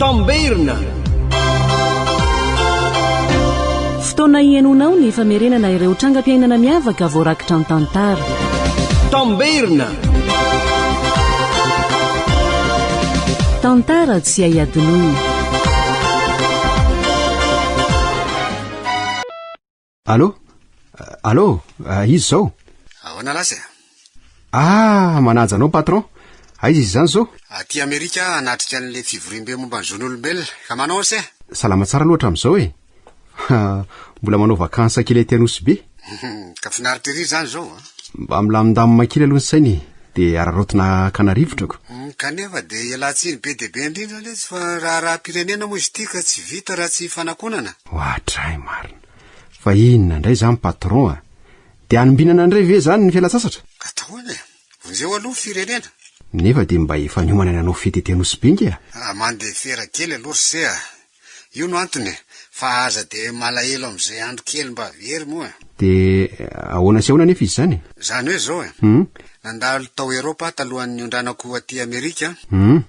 Tamberina. Fotoana hihainoanao ny famerenana ireo trangam-piainana miavaka voarakitra an-tantara. Tamberina. Tantara tsy hay adinoina. Allo? Allo? Izy izao. Ahoana laza e? Ah, manaja anao patron. Aiza izy izany izao? Aty Amerika hanatrika an'ilay fivoriambe momba ny zon'olombelona. Ka manao ahoana e? Salama tsara aloha hatramin'izao e. Mbola manao vakansa kely aty Anosibe. Ka finaritra ery izany izao a. Mba milamindamina kely aloha ny saina e. Dia araraotina hakana rivotra ko. Kanefa dia ialatsiny be dia be indrindra lesy fa raharaha-pirenena moa izy ity ka tsy vita raha tsy ifanakonana. Oadray marina. Fa inona indray izany patron a? Dia hanombinana indray ve izany ny fialan-tsasatra? Kataona e! Vonjeo aloha ny firenena. Nefa dia mba efa niomana nanao fety ety Anosy be nge a! Ah, mandefera kely aloha ry se a! Io no antony e! Fa aza dia malahelo amin'izay andro kely mba very moa e! Dia ahoana sy ahoana anefa izy izany e? Izany hoe izao e! Hum? Nandalo tao Eropa aho talohan'ny niondranako aty Amerika an! Hum?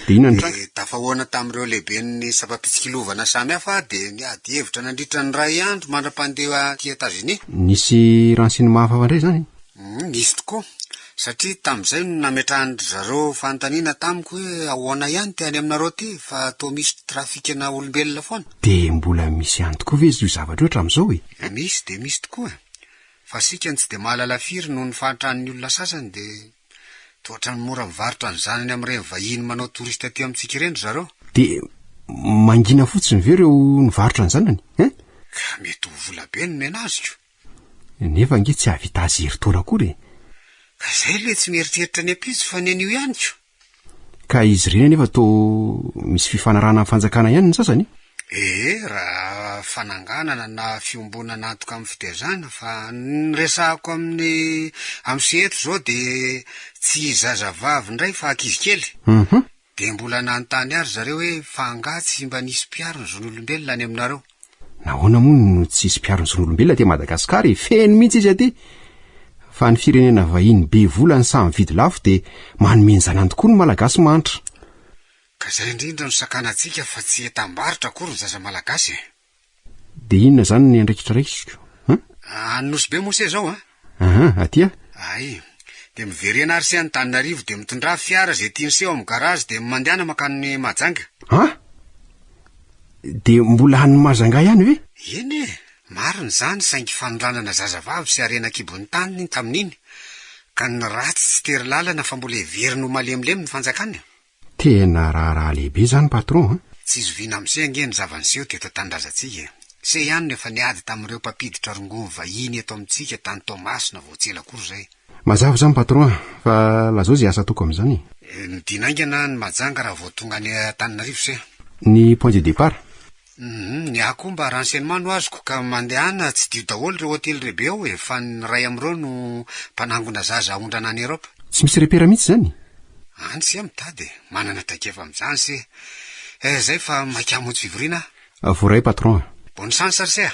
Dia inona ny tranga? Ny tafahoana tamin'ireo lehiben'ny sampam-pitsikilovana samihafa dia niady hevitra nandritra ny iray andro mandra-pandeha aty Etazonia. Nisy renseignements hafahafa indray izany e? Humm, nisy tokoa. Satria tamin'izay no nametrahan-dry zareo fanontaniana tamiko hoe ahoana ihany ity any aminareo ity fa toa misy trafikina olombelona foana. Dia mbola misy ihany tokoa ve izy io zavatra io hatramin'izao e? Misy dia misy tokoa. Fa isika no tsy dia mahalala firy noho ny fahantran'ny olona sasany dia. Dia ohatran'ny mora mivarotra ny zanany amin'ireny vahiny manao touriste aty amintsika ireny ry zareo. Dia mangina fotsiny ve ireo nivarotra ny zanany eh? Ka mety ho vola be no nomena azy ko. Nefa ange tsy hahavita azy herintaona akory e. Ka izay ilay tsy mieritreritra ny ampitso fa ny anio ihany ko. Ka izy ireny anefa toa misy fifanarahana amin'ny fanjakana ihany ny sasany? Ee, raha fananganana na fiombonana antoka amin'ny fitezana, fa ny resahako amin'ny amsy eto izao dia tsy zazavavy indray fa ankizy kely. Dia mbola nanontany ahy ry zareo hoe fa angaha tsy mba nisy mpiaro ny zon'olombelona any aminareo? Nahoana moa no tsy hisy mpiaro ny zon'olombelona aty Madagasikara e? Feno mihitsy izy aty. Fa ny firenena vahiny be vola ny samy vidy lafo dia manome ny zanany tokoa ny Malagasy mahantra. Ka izay indrindra no sakanantsika fa tsy entam-barotra akory ny zaza Malagasy e! Dia inona izany ny andraikitra raisiko? An? Any Nosy be moa se izao an? Aha, aty a! Ay, dia miverena ary se Antananarivo dia mitondrà fiara izay tiany se ao amin'ny garage dia mandehana mankany Mahajanga. A! Dia mbola any Mahajanga ihany ve? Eny e, marina izany saingy fanolanana zazavavy sy harena an-kibon'ny tany tamin'iny ka ny ratsy tsy tery lalana fa mbola heveriny ho malemilemy ny fanjakana. Tena raharaha lehibe zany patron an! Tsy zoviana amse ange ny zava-niseho teto an-tanindrazantsika e! Se ihany no efa niady tamin'ireo mpampiditra rongony vahiny eto amintsika tany Toamasina vao tsy ela akory izay. Mazava izany patron a! Fa lazao izay asa ataoko amin'izany e! Midina haingana ny majanga raha vao tonga any Antananarivo se! Ny point de départ? Humm, ny ahy koa mba renseignement no azoko ka mandehana tsidio daholo ireo hotely lehibe ao e, fa ny ray amin'ireo no mpanangona zaza haondrana any Europe. Tsy misy repera mihitsy izany? Any se mitady e, manana traikefa amin'izany se. Eh, izay fa maika hamonjy fivoriana aho. Voaray patron a. Bonne chance ry se a.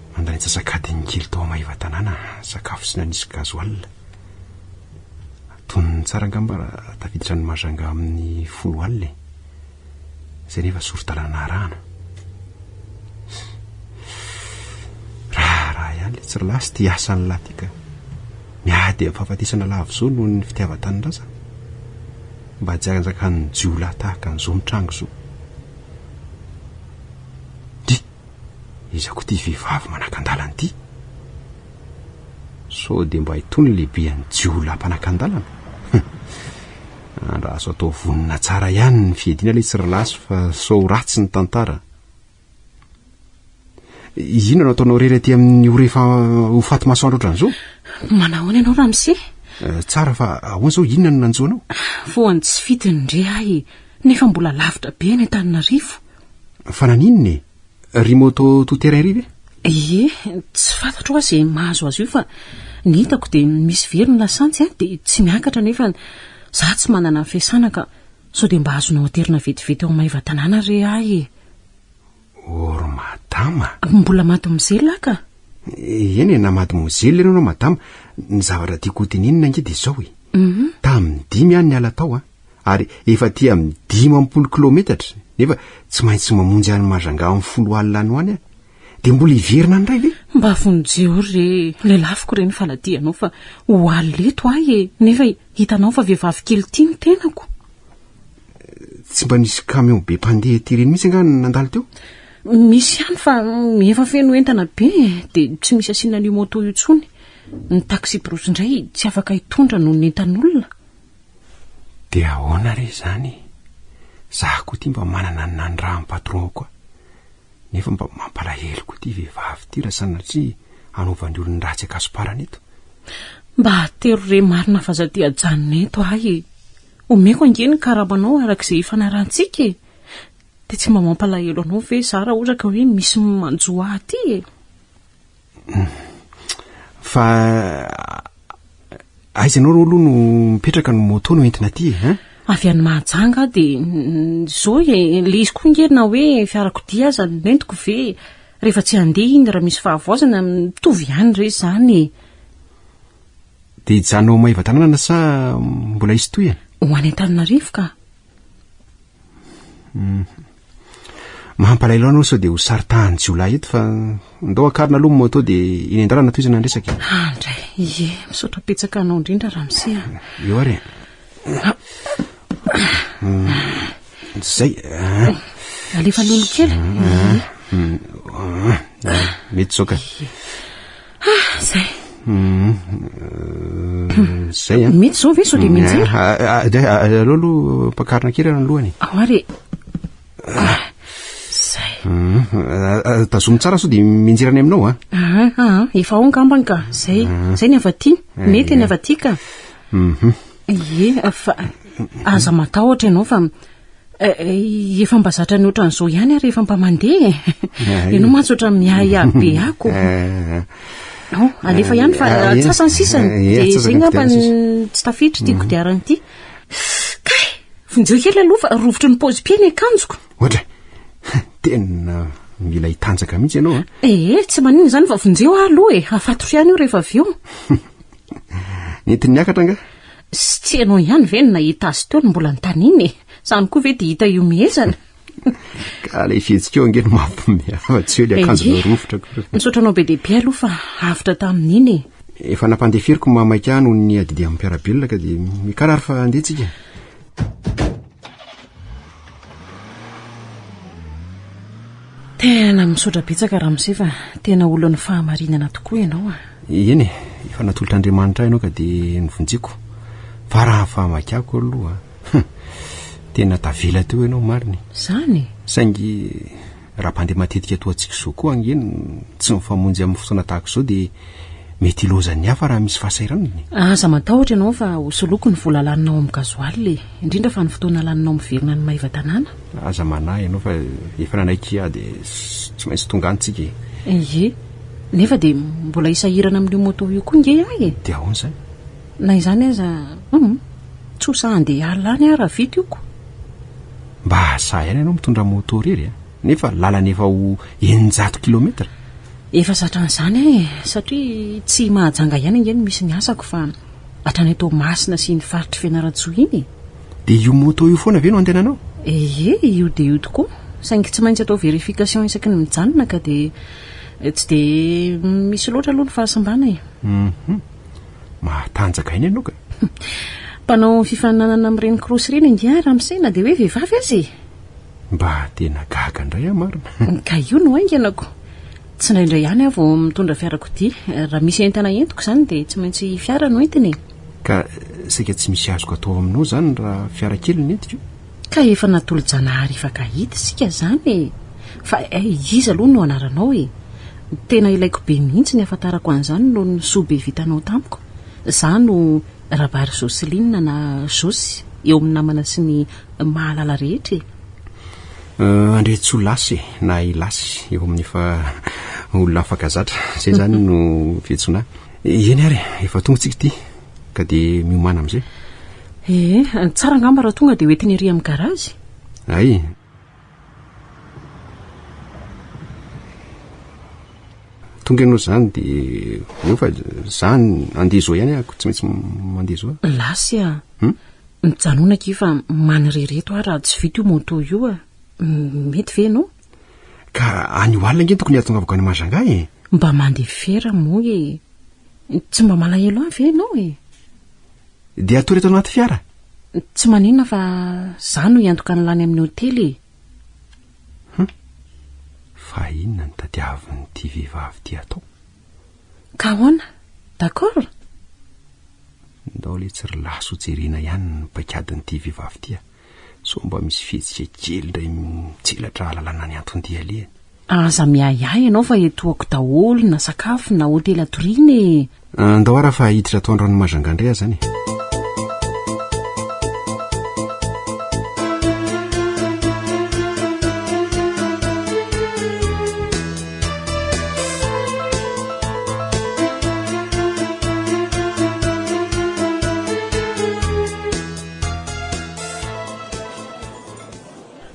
Nandray antsasak'adiny kely tao Maevatanàna sakafo tsy nanisy gasoil. Tonony tsara angamba raha tafiditra any Majanga amin'ny folo alina e. Izay nefa sori-dalana arahana. Raharaha ihany ilay tsirilahy sy ity asan'ny lahy ity ka. Miady amin'ny fahafatesana lavo izao noho ny fitiavan-tanindrazana. Mba tsy hanjakan'ny jiolahy tahaka an'izao mitranga izao. Iza koa ity vehivavy manakan-dalana ity? Sao dia mba itony lehibean'ny jiolahy mpanakan-dalana? Humm! Andraso hatao vonona tsara ihany ny fiadiana ilay tsirilasy fa sao ho ratsy ny tantara. Inona no ataonao irery aty amin'ny ho rehefa ho faty masoandro ohatran'izao? Manahoana ianao Ramse? Eh, tsara fa ahoana izao inona no nanjo anao? Voan'ny tsy fidiny indray ahy nefa mbola lavitra be any Antananarivo. Fa naninona e? Ry moto tout terrain ry ve? Ie, tsy fantatro hoa izay mahazo azy io fa ny hitako dia misy very ny lasantsy an, dia tsy miakatra nefa za tsy manana ny fiasana ka sao dia mba azonao aterina vetivety ao Maevatanàna re ahy e. Or madama. Mbola mademoiselle aho ka. Eny e, na mademoiselle ianao na madama, ny zavatra tiako hotenenina ange dia izao e. Mhm. Tamin'ny dimy aho niala tao an. ary efa aty amin'ny dimampolo kilometatra nefa tsy maintsy mamonjy any Majanga amin'ny folo alina any ho any aho. Dia mbola hiverina any indray ve? Mba vonjeo re, lelafiko re ny faladianao fa ho alina eto ahy e! Nefa hitanao fa vehivavy kely tia ny tenako. Tsy mba nisy camion be mpandeha ety ireny mihitsy angaha nandalo teo? Misy ihany fa efa feno entana be e, dia tsy misy asiana an'io moto io intsony. Ny taxi-brousse indray tsy afaka hitondra noho ny entan'olona. De ahoana re zany e! Za ko ty mba manana ny nanirahany patron ko a! Nefa mba mampalahelo ko ty vehivavy ty ra sanatria anovany olony ratsy akasomparany eto. Mba atero re marina fa za te ajanona eto ahy e! Omeko ange ny karamanao araka ze ifanarahantsika e! De tsy mba mampalahelo anao ve za ra ohatra ka hoe misy manjo ahy ty e! Fa aiza ianao aloha no mipetraka no moto no entina aty e? Eh? Avy any Mahajanga aho dia izao e, ilay izy koa nge na hoe fiarakodia aza no nentiko ve rehefa tsy handeha iny raha misy fahavoazana mitovy ihany re izany e. Dia hijanona ao Maevatanàna sa mbola hisy tohina? Ho any Antananarivo ka. Mhm. Mampalahelo anao sao dia ho saritahan'ny jiolahy eto fa ndao akarina aloha ny moto dia eny an-dalana toizana ny resaka. Andray, ah, ie, misaotra petsaka anao indrindra ramose a. Eo ary. Zay. Alefa lolo kely. Mety zoka. Ah, zay. Mhm. Zay an. Mety zao ve sao dia mianjera? Ah, ah, ah, dia, ah, Aleo aloha ampakarina kely ny lohany. Ao ary e. Ah, zay. Mhm. Ah, ah, Tazomy tsara sao dia mianjera any aminao an. Ah, ah, ah, efa ao angambany ka. Zay. Zay ny avy aty. Mety ny avy aty ka. Mhm. Ie, fa aza matahotra ianao fa Eh, efa mba zatra ny ohatran'izao ihany aho rehefa mba mandeha e ianao mantsy ohatra miahiahy be ako oh, alefa ihany fa atsasany sisany dia izay ngamba ny tsy tafiditra ity kodiarana ity kay vonjeo kely aloha fa rovitry ny paozy piaina akanjoko ohatra tena mila hitanjaka mihitsy ianao ee eh, tsy manina izany fa vonjeo aho aloha e hafatoro ihany io rehefa avy eo nentin'ny akatra nga Sy tsy ianao ihany ve no nahita azy teo no mbola nitaniana e? Izany koa ve dia hita ihomehezana? Ka ilay fihetsikao ange no mampihomehy afa tsy hoe ilay akanjo voarovitra akory. Misaotra anao be dia be aloha fa avotra tamin'iny e. Efa nampandeferiko ny mahamaika ahy noho ny adidian'ny mpiara-belona ka dia mikarary fa handeha tsika. Tena misaotra betsaka Ramose fa tena olon'ny fahamarinana tokoa ianao a! Eny e, efa natolotr'Andriamanitra ahy ianao ka dia novonjeko, fa raha fahamakiako aloha, hum, tena tavela teo ianao marina e! Izany? Saingy Raha mpandeha matetika toa antsika izao koa ange no tsy mifamonjy amin'ny fotoana tahaka izao dia mety hilaozany ny hafa raha misy fahasahiranana e! Aza matahotra ianao fa ho soloiko ny vola laninao amin'ny gasoil e! indrindra fa ny fotoana laninao miverina any Maevatanàna. Aza manahy ianao fa efa nanaiky hiady e! tsy maintsy tonga any tsika e! Ie! nefa dia mbola hisahirana amin'io moto io koa nge aho e! Dia ahoana izany? Na izany aza, humm, tsy ho sahy handeha hiala any aho raha vita io ko! Mba sahy ihany ianao mitondra moto irery a! Nefa lalana efa ho eninjato kilometatra! Efa zatra an'izany aho e! Satria tsy Mahajanga ihany ange no misy ny asako fa hatrany Toamasina sy iny faritr'i Fianarantsoa iny e! Dia io moto io foana ve no andehananao? Ee, io dia io tokoa! Saingy tsy maintsy atao verification isaky ny mijanona ka dia tsy dia misy loatra aloha ny fahasimbana e! Humm. mahatanjaka aina ianao ka. Mpanao fifaninanana amin'ireny course ireny angaha ramose na dia hoe vehivavy aza e! Mba tena gaga indray aho marina. Ka io no hainganako. Tsy indraindray ihany aho vao mitondra fiarakodia. Raha misy entana entiko izany dia tsy maintsy fiara no entiny e! Ka saika tsy misy azoko atao aminao izany raha fiara kely no entiko? Ka efa natolo-janahary hifankahita isika izany e! Fa iza aloha no anaranao e? Tena ilaiko be mihitsy ny hahafantarako an'izany noho ny soa be vitanao tamiko. Izaho no Rabary Jocelyne na Josy eo amin'ny namana sy ny mahalala rehetra e! Andriantsoa Lasy e! Na i Lasy eo amin'ny efa olona afaka zatra. Izay izany no fiantsoana ahy. Eny ary, efa tonga isika ity. ka dia miomana amin'izay ee eh, tsara angamba raha tonga dia hoentiny ery amin'ny garazy ay tonga ianao izany dia eo fa izany andeha izao ihany ahako tsy maintsy mandeha izao lasy a hmm? mijanonaka i fa manirereto aho raha tsy vita io monto io a mety ve ianao Ka any ho alina nge tokony hahatongavako any Majanga e. Mba mandeha fiara moa e. Tsy mba malahelo ahy ve ianao e? Dia hatory eto anaty fiara? Tsy maninona fa za no hiantoka ny lany amin'ny hotely e. Hum. Fa inona no tadiavin'ity vehivavy ity atao? Ka ahoana? D'accord? Ndao le tsy ry laso ho jerena ihany ny paikadin'ity vehivavy ity a. sao mba misy fihetsika kely indray mitselatra hahalalana ny anton-dialehany. Aza miahiahy ianao fa etoako daholo na sakafo na hotely atoriana e! Andao ara fa hiditra ato an-dranomazanga indray aho izany e!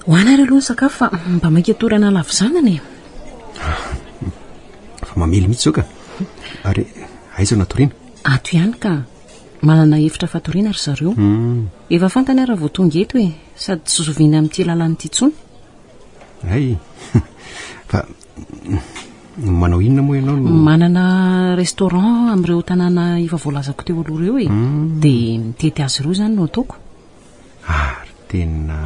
Ho anareo aloha ny sakafo fa mba mainka torana lavo zanana e. Fa mamely mihitsy zao ka. Ary aiza no atoriana? Ato ihany ka. Manana efitra fatoriana ry zareo. Hmm. Efa fantany ary vao tonga eto e, sady tsy zoviana amin'ity lalana ity intsony. Hay. Fa Manao inona moa ianao no... Manana restaurant amin'ireo tanàna efa voalazako teo aloha ireo e. Hmm. Dia mitety azy ireo izany no ataoko. Ary ah, tena...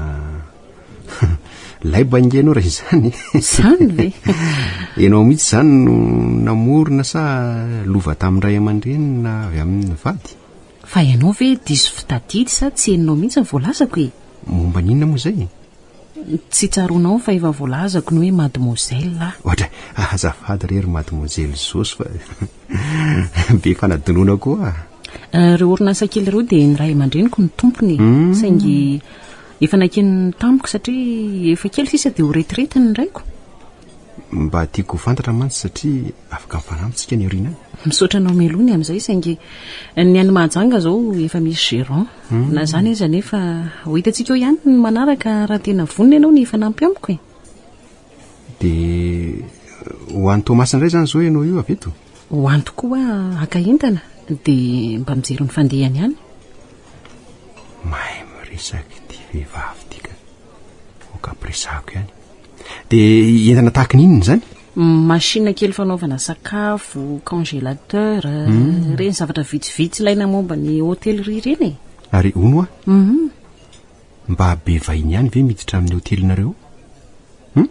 Laiba inge ianao raha izany. Izany ve? Ianao mihitsy izany no namorona sa lova tamin-dray aman-dreny na avy amin'ny vady? Fa ianao ve diso fitadidy sa tsy henonao mihitsy ny voalazako e? Momba n'inona moa izay? Tsy tsaroanao fa efa voalazako ny hoe mademoiselle aho. Ohatra, azafady re ry mademoiselle Zosy fa be fanadinoana koa. Ireo orinasa kely ireo dia ny ray aman-dreniko no tompony e. Saingy efa nakiany tamiko satria efa kely sisa dia ho retraite ny raiko. Mba tiako ho fantatra mantsy satria. Afaka mifanampy tsika any aoriana any. Misaotra anao Melonie amin'izay saingy ny any Mahajanga izao efa misy gérant. Na izany aza anefa ho hitantsika eo ihany ny manaraka raha tena vonona ianao ny hifanampy amiko e. Dia ho any Toamasina indray izany izao ianao io avy eto? Ho any tokoa haka entana dia mba mijery ny fandehany ihany. Mahay miresaka ity vehivavy ity ka. Aoka ampiresahako ihany. Dia entana tahaka ny inona izany? Machine kely fanaovana sakafo, congélateur, hmm. reny zavatra vitsivitsy ilaina momba ny hôtellerie reny e. Ary ono a? Mhm. Mba be vahiny ihany ve miditra amin'ny hôtelinareo? Hmm?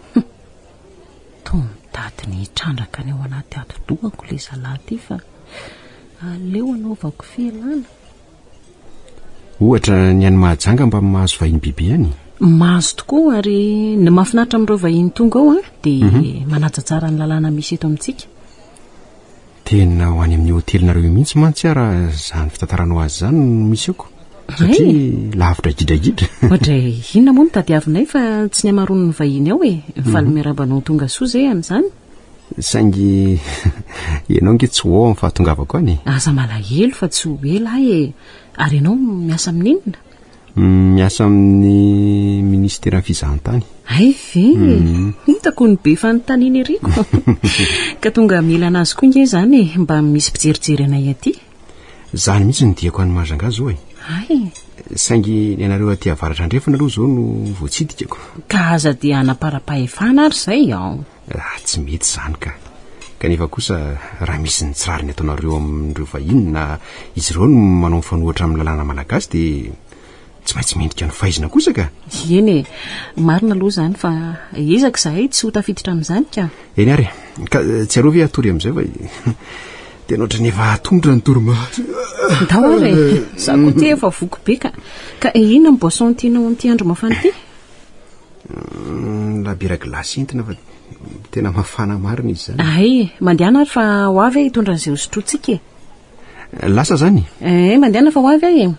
Toa mitady ny hitrandraka ny ao anaty atidohako le zalahy ty fa aleo anaovako fialana. Ohatra, ny any Mahajanga mba mahazo vahiny biby ihany? Mahazo tokoa, ary ny mahafinaritra amin'ireo vahiny tonga ao dia mhm. manaja tsara ny lalàna misy eto amintsika. Tena ho any amin'ny hotelinareo mihitsy mantsy ara izany fitantaranao azy izany no misy eko. Satria lavitra gidragidra. Ohatra inona moa no tadiavinay fa tsy ny hamaroan'ny vahiny ao e. Faly mhm. miaraba anao tonga soa izay amin'izany. Saingy ianao nge tsy ho ao amin'ny fahatongavako any e. Aza malahelo fa tsy ho ela aho e. Ary ianao miasa amin'inona? Miasa amin'ny ministeran'ny fizahantany. Hay ve? Mhm. Hitako ny be fanontaniana iriko. Ka tonga hamela an'azy koa nge izany e, mba misy mpijerijery anay aty. Zany mihitsy ny diako any Mahajanga zao e. Ay. Saingy ny anareo aty avaratra andrefana aloha zao no voatsidikako. Ka aza dia hanaparampahefana ary zay ao. Ah, tsy mety zany ka. Kanefa kosa raha misy ny tsy rariny ataonareo amin'ireo vahiny na izy ireo no manao mifanohitra amin'ny lalàna malagasy dia tsy maintsy mendrika ny faizina kosa ka eny e marina aloha izany fa ezaka izahay tsy ho tafiditra amin'izany ka eny ary ka tsy arovy atory amin'izay fa dia nohatra ny efa atondra ny toromaso ndao ary e za koa ty efa voko be ka ka inona ny boisson tianao amin'ity andro mafana ity mm, labira glasy entina fa tena mafana marina izy izany ay mandehana ary fa ho avy e hitondra an'izay hosotrotsika e Lasa zany? Eh, mandehana fa ho avy ahy e.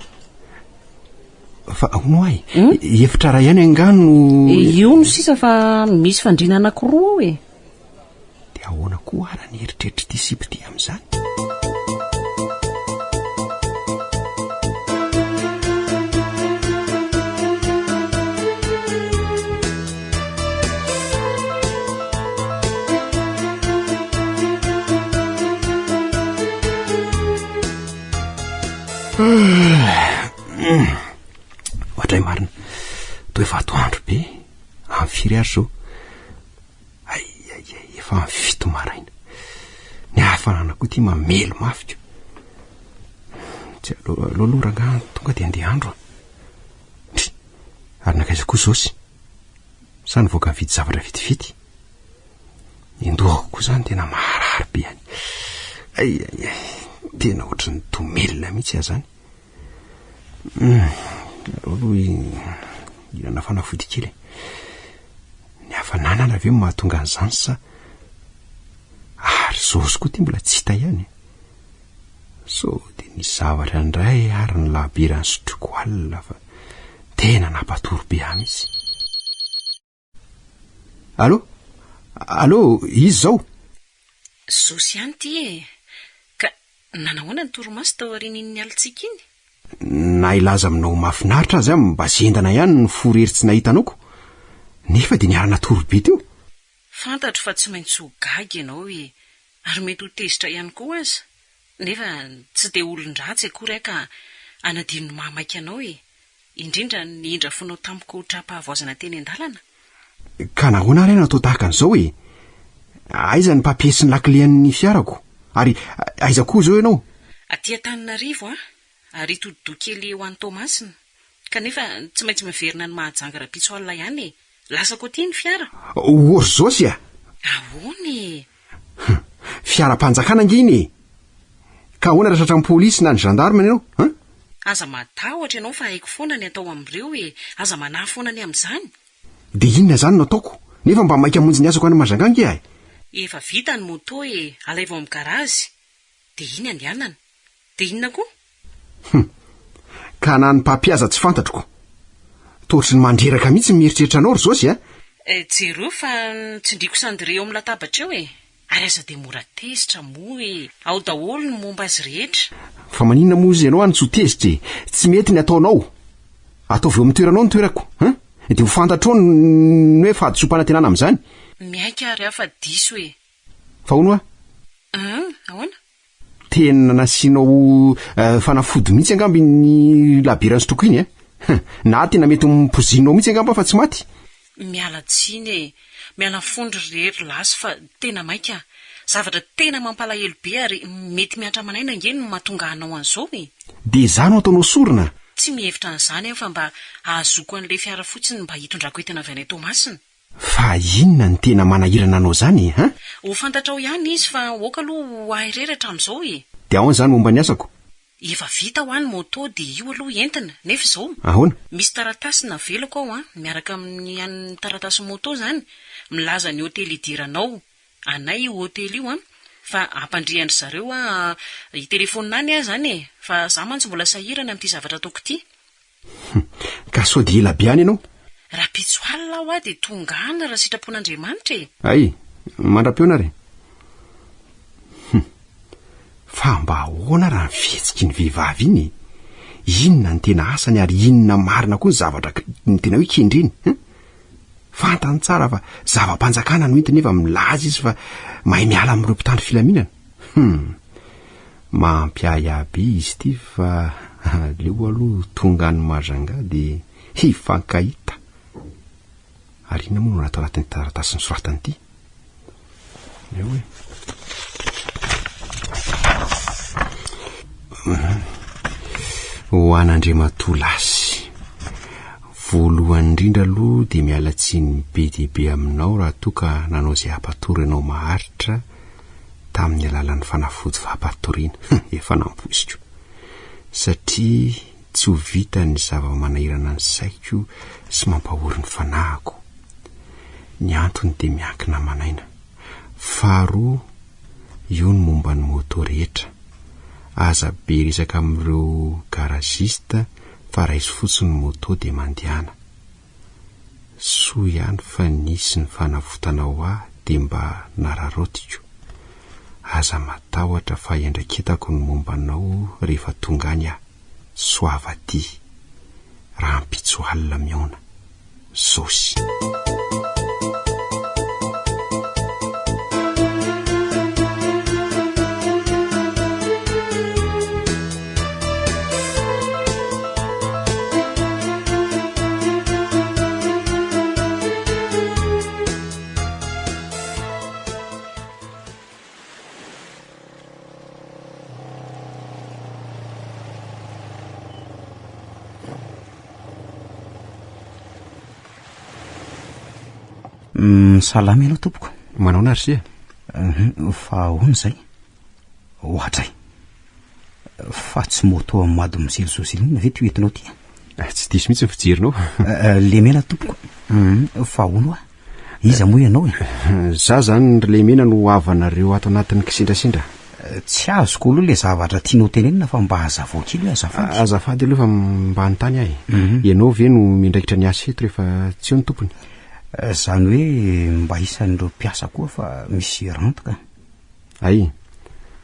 Fa hono ahy, hmm? efitra ray ihany angaha no... Eh, io no sisa fa misy fandriana anankiroa ao e. Dia ahoana koa ara ny eritreritry ity sipy ity amin'izany? ohatray marina toe vato andro be amy firy ary zao ay ay ay efa amy fito maraina ny hafanana koa ty mamelo mafiko tsy aloha aloha rangah tonga de andeha andro a Ary nankaiza koa Zosy? Sa nivoaka nividy zavatra vitividy? Nendohako koa izany tena maharary be any. Ay, ay, ay, tena ohatry ny domelina mihitsy aho izany. Hmm, aleo aloha hihinana fanafody kely e. Ny hafananana ve mahatonga an'izany sa ary Zosy koa ity mbola tsy hita ihany? Sao dia nisy zavatra indray ary ny lahabiran'i Sotriko alina fa tena nampatory be ahy mihitsy. Allo? Allo, izy izao? Zosy ihany ity e! Ka nanahoana ny torimaso tao aorian'iny alintsika iny? Na hilaza aminao ho mahafinaritra aza aho mba zendana ihany ny fo irery tsy nahita anoko. Nefa dia niara-natory be teo. Fantatro fa tsy maintsy ho gaga ianao e! Ary mety ho tezitra ihany koa aza, nefa tsy dia olon-dratsy akory aho ka hanadino ny mahamaika anao e! indrindra ny indra fonao tamiko ho tra-pahavoazana teny an-dalana? Ka nahoana ary aho natao tahaka an'izao e? Aiza ny papiers sy ny lakile an'ny fiarako? Ary aiza koa izao ianao? Aty Antananarivo aho, Ary ito hodi-doha kely eo any Toamasina. Kanefa tsy maintsy miverina any Mahajanga rahampitso alina ihany e! Lasako aty ny fiara. Orzosy a! Ahoana e! Hum! Fiaram-panjakana ange iny e! Ka ahoana raha tratran'ny polisy na ny gendarme ianao an! Aza matahotra ianao fa haiko foana ny atao amin'ireo e! Aza manahy foana ny amin'izany! Dia inona izany no ataoko? Nefa mba maika hamonjy ny asako any Mahajanga ange ahy! Efa vita ny moto e! Alaivo amin'ny garazy! Dia iny andehanana. Dia inona koa? Hum. Ka na ny mpampihaza tsy fantatro koa. Toa ohatry ny mandreraka mihitsy ny mieritreritra anao ry Zosy a! Eh, jereo fa tsindriako cendrier eo amin'ny latabatra eo e! Ary aza dia mora tezitra moa e! Ao daholo ny momba azy rehetra. Fa maninona moa izy ianao any tsy ho tezitra e! Tsy mety ny ataonao. Ataovy eo amin'ny toeranao ny toerako a! Dia ho fantatrao ny ny hoe fahadisoam-panantenana amin'izany. Miaiky ary aho fa diso e! Fa hono hoa? Hum, ahoana? Tena nasianao eh, fanafody mihitsy angamba iny labiera nsotroko iny eh. Na tena mety ho pozinonao mihitsy angamba fa tsy maty. Miala tsiny e! Miala fondro re ry lasy fa tena maika. Zavatra tena mampalahelo be ary mety mihatra aman'aina ange no mahatonga anao an'izao e! Dia izaho no ataonao sorona? Tsy mihevitra an'izany aho fa mba ahazoako an'ilay fiara fotsiny mba hitondrako entana avy any Toamasina. Fa inona no tena manahirana anao zany e hein? Ho fantatrao ihany izy fa oka aloha ho ahy rery hatramizao e! De ahoana zany momba ny asako? Efa vita hoa ny moto de io aloha entina, nefa izao. Ahoana? Misy taratasy navelako ao an, miaraka amin'ny an'ny taratasy moto zany, milaza ny hotely hidiranao, anay io hotely io an, fa hampandrian-dry zareo hoa hitelefonina any aho zany e, fa za mantsy mbola sahirana amin'ity zavatra ataoko ity. Humm! Ka sao dia ela be any ianao? Rahampitso alina aho dia tonga any raha sitrapon'Andriamanitra e! Hay! Mandra-peo na re! Humm! Fa mba ahoana raha ny fihetsiky ny vehivavy iny e? Inona ny tena asany ary inona marina koa ny zavatra tena hoe kendreny e? Fantany tsara fa zava-panjakana no entiny nefa milaza izy fa mahay miala amin'ireo mpitandro filaminana. Hum. Mampiahy ahy be izy ity fa aleo aloha tonga any Majunga dia hifankahita. Ary inona moa no raha ato anatin'ity taratasy nosoratany ity? Eo e. Ho an'Andriamatoa Lasy. Voalohany indrindra aloha dia miala tsiny be dia be aminao raha toa ka nanao izay hampatory anao maharitra tamin'ny alalan'ny fanafody fampatoriana. Efa nampoiziko, satria tsy ho vitan'ny zava-manahirana ny saiko sy mampahory ny fanahiko. Ny antony dia miankina aman'aina. Faharoa, io ny momba ny moto rehetra. Aza be resaka amin'ireo garagiste fa raiso fotsiny ny moto dia mandehana. soa ihany fa nisy ny fanavotana ho ahy dia mba nararaotiko, aza matahotra fa iandraiketako ny momba anao rehefa tonga any aho, soavaty, rahampitso alina mihaona. Josy. salama ianao tompoko manaona ry se fa ahoana izay Ohatra e! Fa tsy moto am mado mizily zoziline ve ty entinao ty a? Tsy diso mihitsy ny fijerinao. Lemena tompoko. Fa ahoana hoa? Iza moa ianao e? Za zany ry Lemena no havanareo ato anatin'ny kisendrasendra. Tsy azoko aloha le zavatra tianao tenenina fa mba azavao kely hoe azafady. Azafady aloha fa mba anontany ahy. Ianao ve no miandraikitra ny asa eto rehefa tsy eo ny tompony? Zany hoe mba isan'ireo mpiasa koa fa misy rente ka. Hay,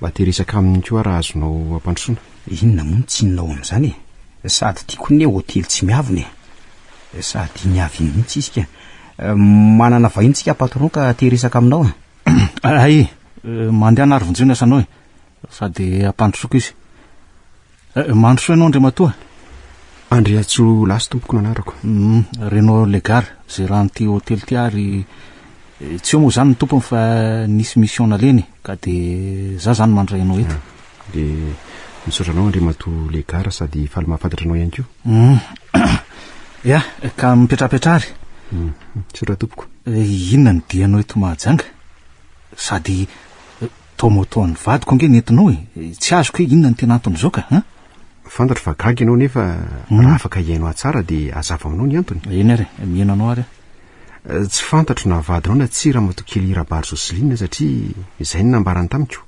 mba te hiresaka aminy koa aho raha azonao ampandrosoana. Inona moa ny tsinonao amin'izany e? Sady tiako ny hoe hotely tsy miavona e! Sady iny avy iny mihitsy izy ka! Manana vahiny tsika patron ka te hiresaka aminao e! Hay e! Mandehana ary vonjeo ny asanao e! Sady ampandrosoako izy. Mandrosoa ianao Andriamatoa. Andriantsoa Lasy tompoko no anarako. Renaud Legar, gérant ity hotely ity ary tsy eo moa izany ny tompony fa nisy mission naleny ka dia za izany mandray anao eto. Dia misaotra anao Andriamatoa Legar sady faly mahafantatra anao ihany koa. Ya, ka mipetrapetra ary. Misaotra tompoko. Inona no dianao eto Mahajanga? Sady. Tao moto an'ny vadiko ange ny entinao e! Tsy azoko hoe inona no tena anton'izao ka an! Fantatro fa gaga ianao nefa raha afaka hihainoa tsara dia hazava aminao ny antony. Eny ary e, mihaino anao ary aho. Tsy fantatro na vadinao na tsia Ramatoa Kelly Rabary Jocelyne satria izay no nambarany tamiko.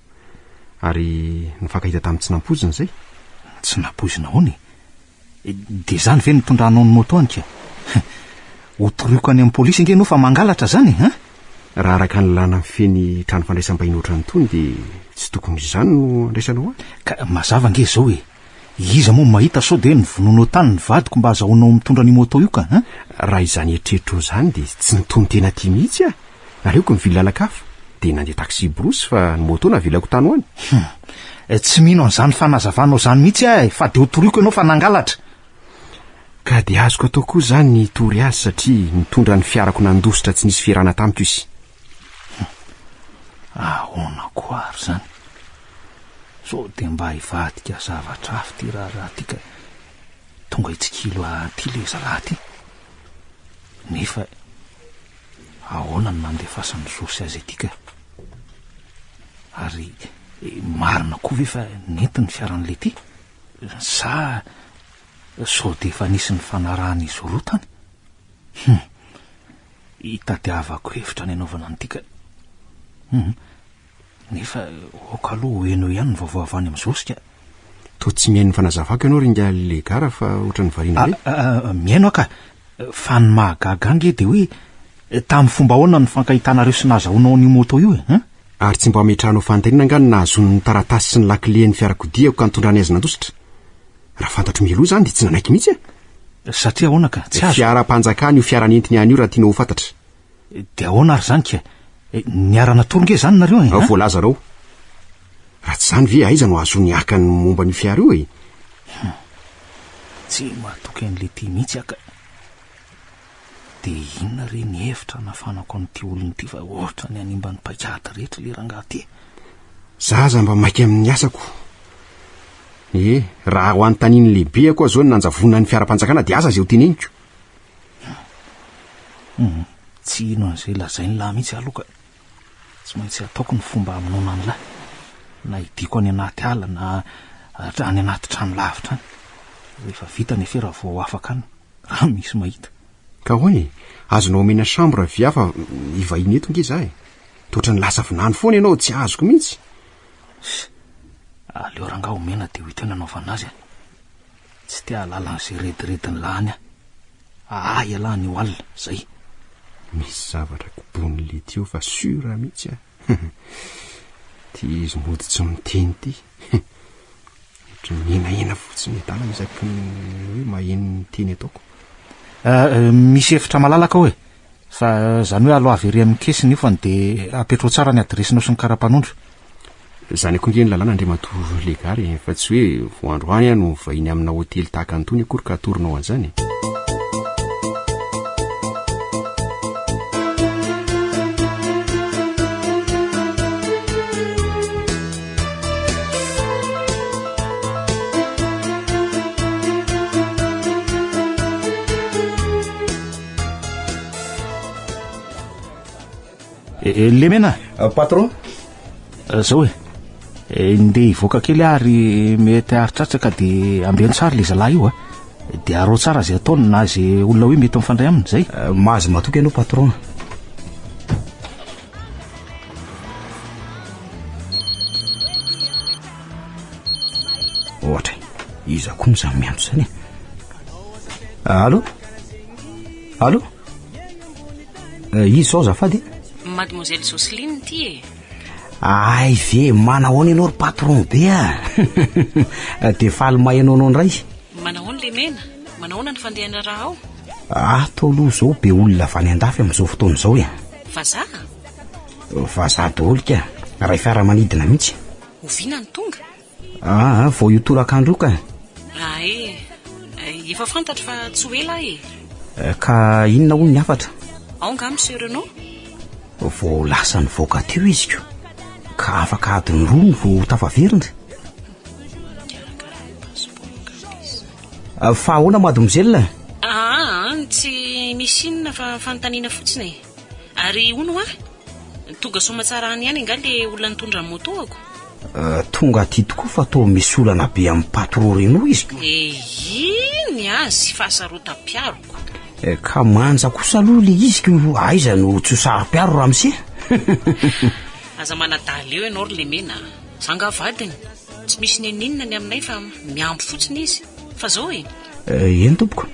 Ary nifankahita tamin'ny tsy nampoizina izay. Tsy nampoizina ahoana e? Dia izany ve no mitondra anao ny moto any ka? Ho toroiko any amin'ny polisy ange ianao fa mangalatra izany e! Hein? Raha araka ny lanan'ny fen'ny trano fandraisam-bahiny ohatran'ny tony dia tsy tokony izany no andraisanao ahy? Ka mazava ange izao e! Iza moa mahita sao dia hoe novonoinao tany ny vadiko mba azahoanao mitondra an'io moto io ka hein? Raha izany eritreritro izany dia tsy ny tonon-tena aty mihitsy aho! Aleoko mivily lalan-kafa, dia nandeha taxi-brousse fa ny moto navelako tany ho any. Hum, eh, tsy mino an'izany fanazavanao izany mihitsy aho eh, fa dia ho toriako ianao fa nangalatra. Ka dia azoko atao koa izany ny hitory azy satria nitondra ny fiarako nandositra tsy nisy fierana tamiko izy. Hum, ahoana koa ary izany? Sao dia mba hivadika zavatra hafa ity raharaha ity ka tonga hitsikilo ahy aty ilay zalahy ity. Nefa ahoana no nandefasan'i Jesosy azy ity ka? Ary marina koa ve fa nety ny fiaran'i Lety? Sa sao dia efa nisy nifanarahan'izy roa tany? Hum! Hitadiavako hevitra ny hanaovana an'ity ka. Hum! Nefa ok aloha ho heno ihany ny vaovao avy any amin'ny Zorsky a! Toa tsy mihaino ny fanazavako ianao ry ingahy Legara fa ohatran'ny variana be? Aa mihaino aho ka! Fa ny mahagaga ahy ange dia hoe tamin'ny fomba ahoana no nifankahitanareo sy nahazahoanao an'io moto io e? Hein? Ary tsy mba hametrahanao fanontaniana angaha ny nahazoany ny taratasy sy ny lakilen'ny fiarakodiako ka nitondrany azy nandositra? Raha fantatro mialoha izany dia tsy nanaiky mihitsy aho! Satria ahoana ka? Tsy azo! Fiaram-panjakana io fiara nentiny any io raha tianao ho fantatra. Dia ahoana ary izany kay? Eh, niara-natory nge izany nareo e? Eh, Ao voalazarao. Raha tsy izany ve aiza no ahazoany haka ny momba an'io fiara io e? Hmm. Tsy matoky an'ilay ty mihitsy aka. Dia inona re ny hevitra anafanako an'ity olona ity fa ohatra ny animba ny paikady rehetra ilay rangaha ty. Za aza mba maika amin'ny asako. Eh, raha ho anontanian'ny lehibeako aho izao ny nanjavonan'ny fiaram-panjakana dia aza izay ho teneniko. Hum, tsy hino an'izay lazain'lah mihitsy aho aloha ka. Tsy maintsy ataoko ny fomba hamonoana an'lah, na hidiako any anaty ala na any anaty trano lavitra any. Rehefa vita ny afera vao ho afaka any, raha misy mahita. Ka hoe, azonao omena chambre avy hafa hivahiny eto ange za e. Dia ohatran'ny lasa vinany foana ianao, tsy azoko mihitsy. Aleo rangaha omena dia ho hita eo ny hanaovana azy e. Tsy te hahalala an'izay redirediny lany aho. Ahy ialahy anio alina. Zay. Misy zavatra kobon'i Letty eo fa sur mihitsy aho. Ity izy mody tsy miteny ity. Ohatry ny mihenahena fotsiny e. Dala isaky ny hoe maheno ny teny ataoko. Misy efitra malalaka ao e. Fa zany hoe aloha avery amin'ny caisse ny ofany dia apetraho tsara ny adiresinao sy ny karapanondro. Zany akory nge ny lalàna Andriamatoa Legare eh, fa tsy hoe vao androany aho no vahiny amina hotely tahaka an'itony akory ka atoronao an'izany eh. Eh, eh, lemena ah, patron eh, zao e ndeha hivoaka kely ary mety haritratraka de ambeno tsara le zalahy io a de arao tsara zay ataony na zay olona hoe mety mifandray aminy zay mahazo matoky ianao patron ohatra iza koa no zany miantso zany e allo allo izy zao zafady mademoiselle Jocelyne ty e ay ve manahoana ianao ry patron be a ah? de faly mahainao anao indray manahoana le mena manahoana ny fandehana raha ao ato ah, aloha zao be olona avy any an-dafy amin'izao fotoana izao e Vazaha? Vazaha daholo ka! Iray fiaramanidina mihitsy. Oviana no tonga? Ah, vao io tolakandro io ka! Ah eh! Efa fantatro fa tsy ho ela aho e! Ka inona hono ny hafatra? Ao angaha Monsieur Renaud? Vao lasa nivoaka teo izy ko! Ka afaka adiny roa no vao tafaverina? Fa ahoana mademoiselle? Aahh tsy misy inona fa fanontaniana fotsiny e! Ary hono hoa? Tonga soamatsarany ihany angaha le olona nitondra ny moto-ako? Tonga aty tokoa fa toa misy olana be amin'ny patro Reno izy. Eii ny azy fahasarotam-piaroko. Ka manja kosa aloha le izy ko aiza no tsy ho saro-piaro ramose? Aza manadala eo ianao ry lemena a! Za angaha vadiny? Tsy misy n'inon'inona ny aminay fa mihambo fotsiny izy fa zao e! Eh, eny tompoko.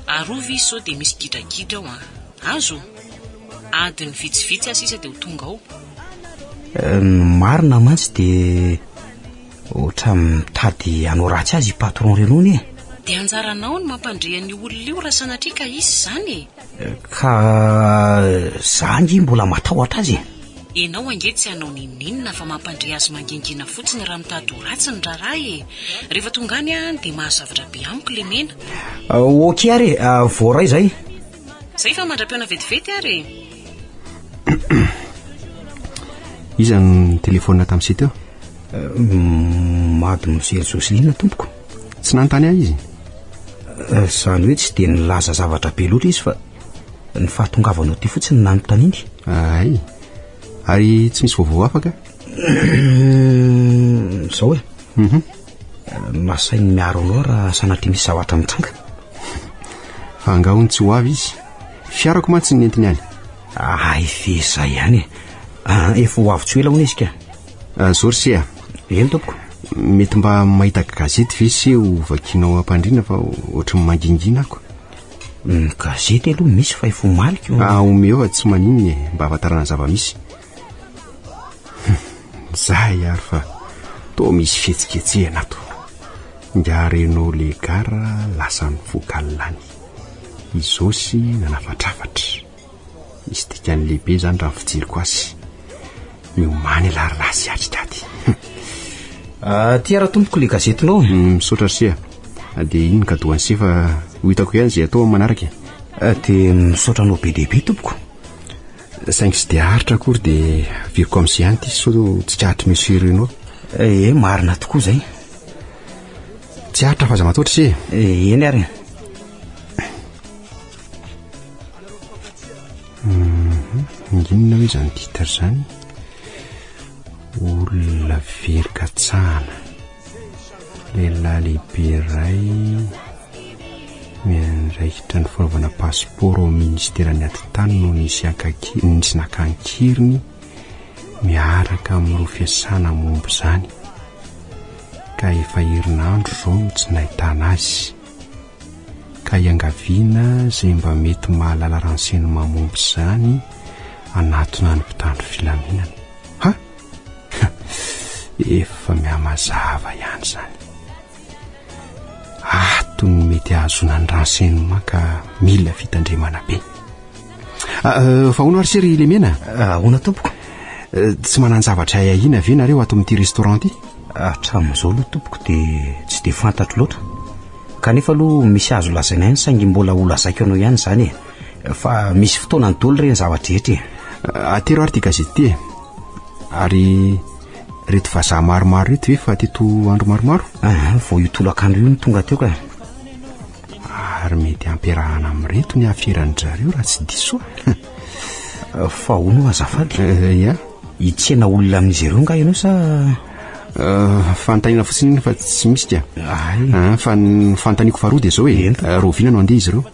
Arovy izy sao dia misy gidragidra ao an! Azo? Adiny vitsivitsy aho sisa dia ho tonga ao. Eh, ny marina mantsy dia ohatra mitady hanao ratsy azy i patron Renony e! Dia anjaranao ny mampandre an'io olona io raha sanatria ka hisy izany e! Ka za ange mbola matahotra azy e! Ianao ange tsy hanao n'inon'inona fa mampandre azy mangingina fotsiny raha mitady ho ratsy ny raharaha e! Rehefa tonga any an dia mahazavatra be amiko lemena. Ok ary e! Voaray izay. Zay fa mandra-pihaona vetivety ary e! Iza no nitelefaonina tamin'isika teo? Mado mijery Joseline tompoko. Tsy nanontany ahy izy. Eh, izany hoe tsy dia nilaza zavatra be loatra izy fa ny fahatongavanao aty fotsiny no nanontaniany. Ay, ary tsy misy vaovao hafa ka? Izao e. Mhm. Nasainy miaro anao raha sanatria misy zavatra mitranga. Fa angaha hono tsy ho avy izy. Fiarako mantsy no nentiny any. Ay ve izay ihany e. Ah, efa ho avy tsy ho ela hono izy ka. Ah, Zorsi ah. Eny tompoko. Mety mba mahita gazety ve se ho vakianao ampandriana fa ohatry ny mangingina ako. Ny gazety aloha misy fa efa omaliko. Ah, omeo fa tsy maninona e, mba hahafantarana zava-misy. Zay ary fa toa misy fihetsiketsehana ato. Nga Renault Legar lasa nivoaka lany. I Zosy nanafatrafatra. Misy dikany lehibe izany raha ny fijeriko azy. Miomany ilay rahalahy sy atrika aty. Aty ara tompoko ilay gazetinao. Mm, misaotra ry Sia. Ah, dia iny kadoan'i Sia fa ho hitako ihany izay atao amin'ny manaraka. Ah, dia misaotra anao be dia be tompoko. Saingy tsy dia aritra akory dia averiko amin'i Sia ihany ity sao tsikaritry Monsieur Reno. Eh, eh, marina tokoa izay. Tsy aritra fa aza mataotra Sia. Eh, eny ary. inona hoe zany titre zany olona very katsahana lehilahy lehibe iray miandraikitra ny fanaovana passeport ao ministeran'ny atitany no nisy ankaki- nisy nakankeriny miaraka amin'ireo fiasana momba izany ka efa herinandro izao no tsy nahitana azy ka iangaviana izay mba mety mahalala renseignement momba izany hanatona ny mpitandro filaminana. Ha! Efa mihamazava ihany izany. Ato ny mety ahazoana ny renseignement ka mila fitandremana be. ah, ahoana ary se ry lemena ah, ahoana tompoko eh, tsy manan-javatra ay ahiana ve nareo ato amin'ity restaurant ity hatramin'izao aloha tompoko dia tsy dia fantatro loatra kanefa aloha misy azo lazaina ihany saingy mbola ho lazaiko anao ihany izany e fa misy fotoana ny doly ireny zava-drehetra e ah, atero ary ty gazety ty e ary reto vazaha maromaro reto ve fa teto andro maromaro ah, vao io tolakandro io no tonga teo ka Ary mety hampiarahana amin'ireto ny haferan-dry zareo raha tsy diso aho. Fa hono azafady. Eh, ia? Hitsena olona amin'izy ireo nga ianao sa eh, fanontaniana fotsiny iny fa tsy misy ka. Ay. Eh, fa ny fanontaniako faharoa dia izao e. Ento. Eh, Roviana no handeha izy ireo?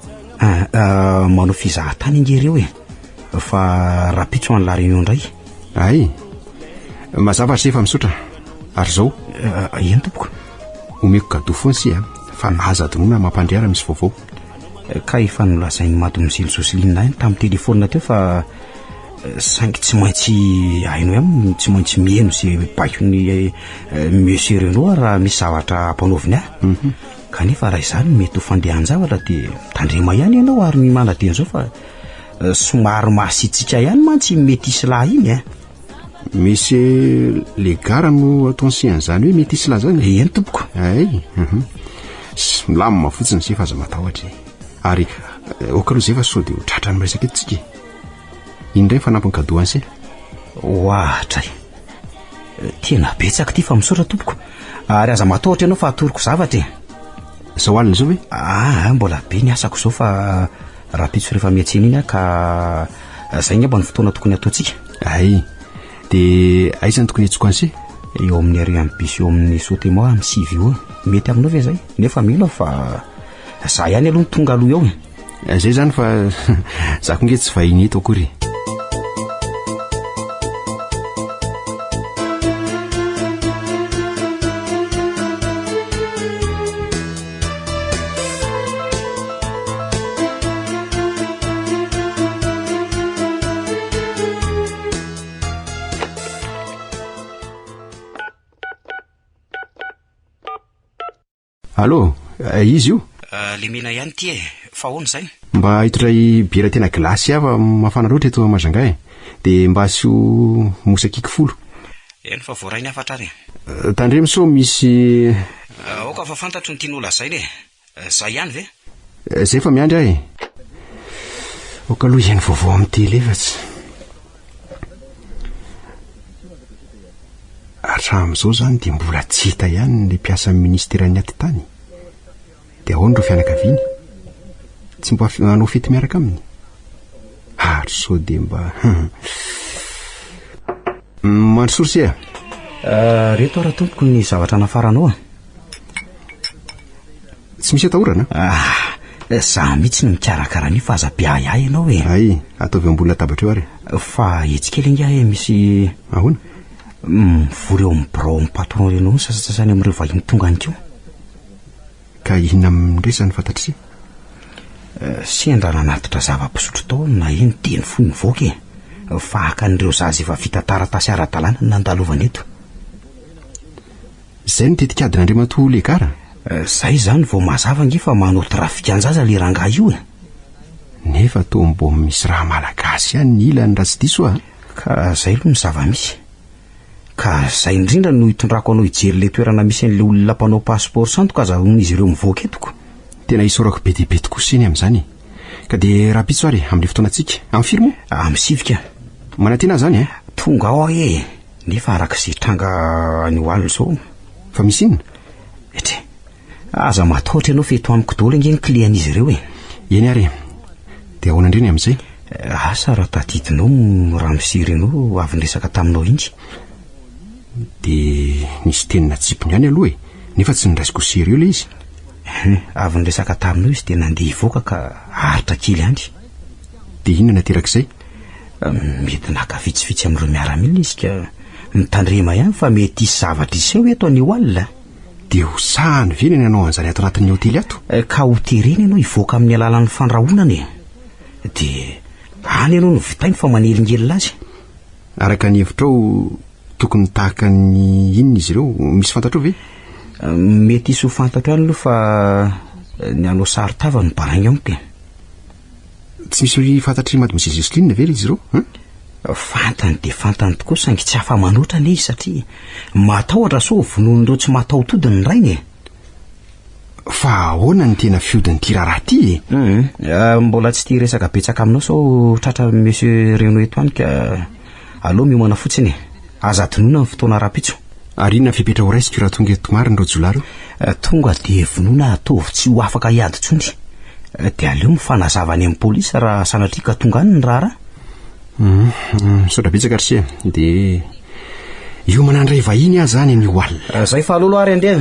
Ah, ah, manao fizahan-tany ange ireo e. Fa rapitso any La Réunion indray. Ay. Mazava ary sefa misaotra. Ary izao. Ah, eny tompoko. omeko gadou foana si a fa laza adinoina mampandre ara misy vaovao eh, ka efa nolazain'i mademoiselle Joseline ahy tamin'ny téléphone teo fa eh, saingy tsy maintsy hainao ihany tsy maintsy mihaino ze baikony eh, monsieur Renaud raha misy zavatra ampanaoviny ahy mhm. kanefa raha izany mety ho fandehan-javatra dia tandrema ihany ianao ary ny manadino zao fa somary masitsika ihany mantsy mety hisy lahy iny a misy le gara no atao nsian'izany hoe mety isy lazany e eny tompoko ay mhm. milamina fotsiny se fa aza matahotra e ary eh, ok aloha zay fa sao dia ho tratra ny resaka etsika e indray fanampiny kadoany se hoahatra e eh, tena betsaka ty fa misaotra tompoko ary aza matahotra ianao fa atoroko zavatra e zao alina zao ve aa ah, ah, mbola be ny asako zao fa Rahampitso rehefa miantsena iny a ka zay ngamba ny fotoana tokony ataontsika. Ay, de aiza no tokony hiantsoko anse? Eo amin'ny arrêt an'ny bus eo amin'ny Sotemor amin'ny sivy ora. Mety aminao ve zay? Nefa mino aho fa za ihany aloha no tonga aloha eo e. Eh, zay zany fa za ko nge tsy vahiny eto akory e. Allo, eh, izy io? Eh, lemena ihany ty e, fa ahoana izany? Mba hitondray biera tena gilasy hafa mafana loatra eto Majanga e. Dia mba asio mosakiky folo. Eny fa voarainy hafatra ary an. Tandremo sao misy. Aoka fa fantatro ny tiany ho lazaina e! Zay ihany ve? Zay fa miandry aho e! Aoka aloha hihaino vaovao amin'ny télé fa tsy. Hatramin'izao izany dia mbola tsy hita ihany ilay mpiasan'ny ministeran'ny atitany. Dia ahoana ireo fianakaviany? Tsy mba hanao fety miaraka aminy? Ary sao dia mba... Mandrosory se ah. Euh, reto ara tompoko ny zavatra nafaranao ah. Tsy misy atahorana? Ah, za mihitsy no mikarakara an'io fa aza be ahiahy ianao e. Ay, ataovy ambony latabatra eo ary. Fa etsy kely ingahy e, eh, misy ahoana? Mivory eo amin'ny birao amin'ny patron reny eo sasatsasany amin'ireo vahiny tonga any koa. Ka inona amindray izany fantatr'ise? Sendra nanatitra zava-pisotro tao aho na eny dieny fohy nivoaka e! Fa haka an'ireo zaza efa vita taratasy ara-dalàna ny nandalovana eto. Izay no tetik'adin'Andriamatoa Legara? Izay izany vao mazava ange fa manao trafikan-jaza ilay rangahy io e! Nefa toa mbola misy raha malagasy ihany ny ilany raha tsy diso aho a! Ka izay aloha ny zava-misy. Ka zay indrindra no hitondrako anao hijery ilay toerana misy an'ilay olona mpanao passeport santo ka azahoan'izy ireo mivoaka eto ko. Tena isaorako be dia be tokoa Seny amin'izany e! Ka dia rahampitso ary amin'ilay fotoanantsika. Amin'ny firy moa? Amin'ny sivy ka. Manantena aho izany e! Tonga ao aho e! Nefa araka izay tranga any ho any izao. Fa misy inona? Etria, Aza matahotra ianao fa eto amiko daholo ange ny clien'izy ireo e. Eny ary e. Dia ahoana indray ny amin'izay? Eh, asa raha tadidinao ny ramose Renaud avy niresaka taminao iny? Dia nisy teny natsipiny ihany aloha e, nefa tsy nondraisiko sérieux ilay izy. Hum, avy niresaka taminao izy dia nandeha hivoaka ka aritra kely ihany. Dia inona naterak'izay? Eh, mety naka vitsivitsy amin'ireo miaramila izy ka mitandrema ihany fa mety hisy zavatra hiseho eto anio alina. Dia ho sahany ve ny nanao an'izany ato anatin'ny hotely ato? Eh, ka ho terena ianao hivoaka amin'ny alalan'ny fandrahonana e. Dia any ianao no vitainy fa manelingelina azy. Araka ny hevitrao, tokony tahaka ny inona izy ireo? Misy fantatrao ve? Eh, mety hisy ho fantatro ihany aloha fa eh, ny hanao sary tava no balainga amiko e. Tsy misy fantatr'i Mademoiselle Jocelyne ve ry izy ireo hein? Fantany dia fantany tokoa saingy tsy afa-manoatra anie izy satria matahotra sao vonoin'ireo tsy mataho-tody ny rainy e. Fa ahoana ny tena fihodin'ity raharaha ity e? Hum, ah, mbola tsy tia resaka betsaka aminao sao tratra Monsieur Reno eto any ka. Aleo miomana fotsiny e. Aza adinoina ny fotoana rahampitso. Ary inona fepetra ho raisiko raha tonga eto marina ireo jiolahy ireo? Eh, tonga dia vonoina ataovy tsy ho afaka hiady intsony. Eh, dia aleo mifanazava any amin'ny polisy raha sanatria ka tonga any ny raharaha. Uhm, uhm, misaotra betsaka ry se. Dia hiomana handray vahiny aho izany anio alina. Eh, izay fa aleo aloha ary andeha.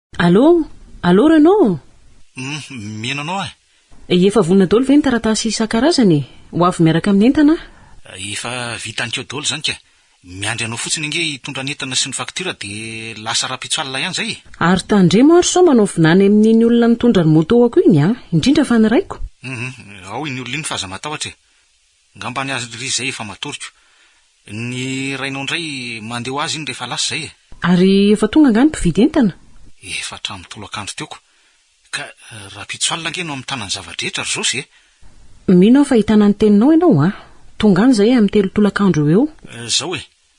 Allô? Allô Renaud ô? Humm, mino anao aho. Efa vonona daholo ve ny taratasy isan-karazany e? Ho avy miaraka amin'ny entana aho. Efa vita any keo daholo izany ka. Miandry anao fotsiny ange hitondra ny entana sy ny facture dia lasa rahampitso alina ihany izay e! Ary tandremo ary sao manao vinany amin'iny olona nitondra ny moto-ako iny an! Indrindra fa ny raiko. Humm, ao iny olona iny fa aza matahotra e! Ngamba ny azy ry zay efa matoriko. Ny rainao ndray mandeha ho azy iny rehefa lasa zay e. Ary efa tonga angaha ny mpividy entana? Efa hatramin'ny tolakandro teo ko. Ka rahampitso alina ange no hamitana ny zava-drehetra ry Zosy e. Mino aho fa hitana ny teninao ianao a. Tonga any zahay amin'ny telo tolakandro eo ho eo. Zao e,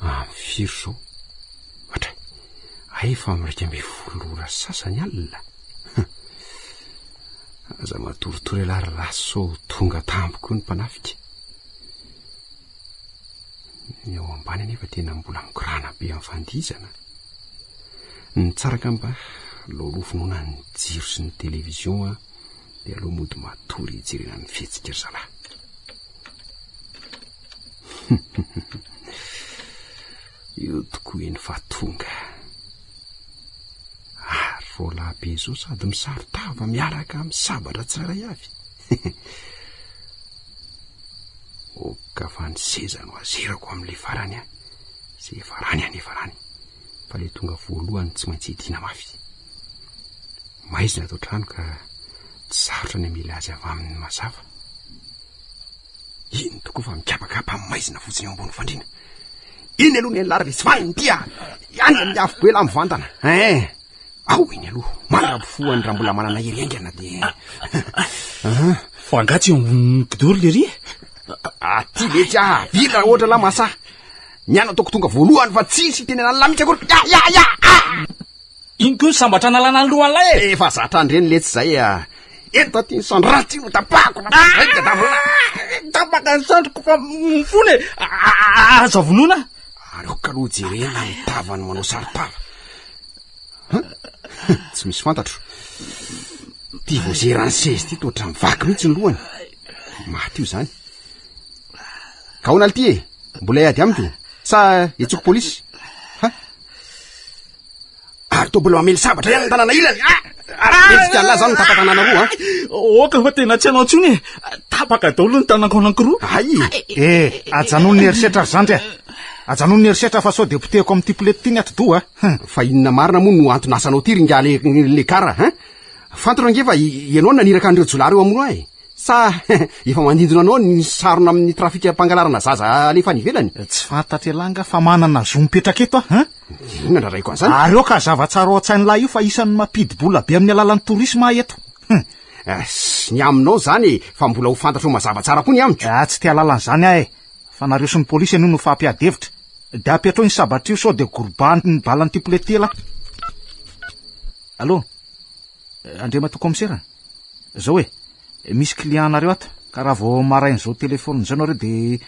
Amin'ny firy izao? Matra, hay efa amin'ny iraika ambin'ny folo ora sy sasany alina? Aza matoritory ialahy ry lahy sao ho tonga tampoka eo ny mpanafika. Ny ao ambany anefa tena mbola mikorana be amin'ny fandihizana. Ny tsara angamba laolo finoana ny jiro sy ny television a, dia aleo mody matory hijerena ny fihetsika ry zalahy. Io tokoa iny fa tonga. Ary vao lahibe izao sady misaro-tava miaraka amin'ny sabatra tsirairay avy. Oka fa ny seza no azerako amin'ilay farany an. Izay efa rany an, efa rany. Fa ilay tonga voalohany tsy maintsy idiana mafy. Maizina ato an-trano ka tsy sarotra ny hamela azy avy amin'ny mazava. Eny tokoa fa mikapakapa amin'ny maizina fotsiny eo ambony fandriana. Eny aloha ny an'ilary ve tsy vaniny dia any amin'ny afo be laha mivantana. Eh, ao eny aloha, mandra-bofoany raha mbola manana hery haingana dia. Fa angaha tsy eo ambonin'ny kidoro lery e? Aty ve tsy ahavita raha ohatra lahy masaha. Ny ahy nataoko tonga voalohany fa tsisy hitenenan'ny lahy mihitsy akory. Ya ya ya! Iny koa ny sambatra analana ny lohan'ilay e! Efa zatra an-dreny letsy izay a! Ento aty ny sandry raha tsy ho tapahako na vaika na vilany! Tapaka ny sandriko fa mifona e! Aza vonoina! Aleoko aloha jerena ny tavany manao saron-tava. Tsy misy fantatro. Ity voazeran'ny sezy ity toa ohatran'ny vaky mihitsy ny lohany. Maty io izany. Kaona ity e! Mbola hiady amiko sa hetsoko polisy? Ary toa mbola mamely sabatra ihany ny tanana ilany. Ah! Ary mendrika an'la zany ny tapa-tanana roa an. Oka fa tena tsy hanao intsony e. Tapaka daholo ny tanako anankiroa. Ay! Eh, ajanony ny herisetra ry zandry a. Ajanony ny herisetra fa sao dia potehiko amin'ity polety ity ny atidoha a. Fa inona marina moa no antony asanao ity ringahy le le kara a. Fantatra ange fa ianao naniraka an'ireo jiolahy ireo hamono ahy. Sa efa mandindona anao ny sarona amin'ny trafika mpangalarana zaza alefa any ivelany? Tsy fantatry elah nga fa manana zo mipetraka eto aho a. Inona raha raiko an'izany? Ary aoka hazava tsara ao an-tsain'ny lahy io fa isan'ny mampidi-bola be amin'ny alalan'ny tourisme ahy eto. Ah, sy ny aminao izany e, fa mbola ho fantatrao mazava tsara koa ny amiko. Ah, tsy te halala an'izany aho e. Fa nareo sy ny polisy anie no fampiady hevitra. Dia apetraho iny sabatra io sao dia gorobahan'ny ny balan'ity poulet ity elah. Allô? Andriamatoa Kaomisera? Zao e, misy client anareo ato, ka raha vao marain'izao telephone izao nareo dia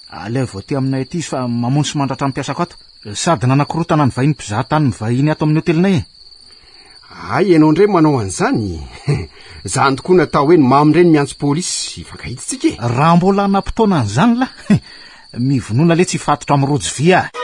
alaivo aty aminay aty izy fa mamono sy mandratra ny mpiasako ato. Sady nanakorontana ny vahiny mpizaha tany mivahiny ato amin'ny hotelinay e! Hay ianao indray manao an'izany? Izany tokoa natao hoe ny mamo indray ny miantso polisy hifankahitsitsika e! Raha mbola hanam-potoana an'izany lah! Mivonona letsy hifatotra amin'ny rojo vy aho!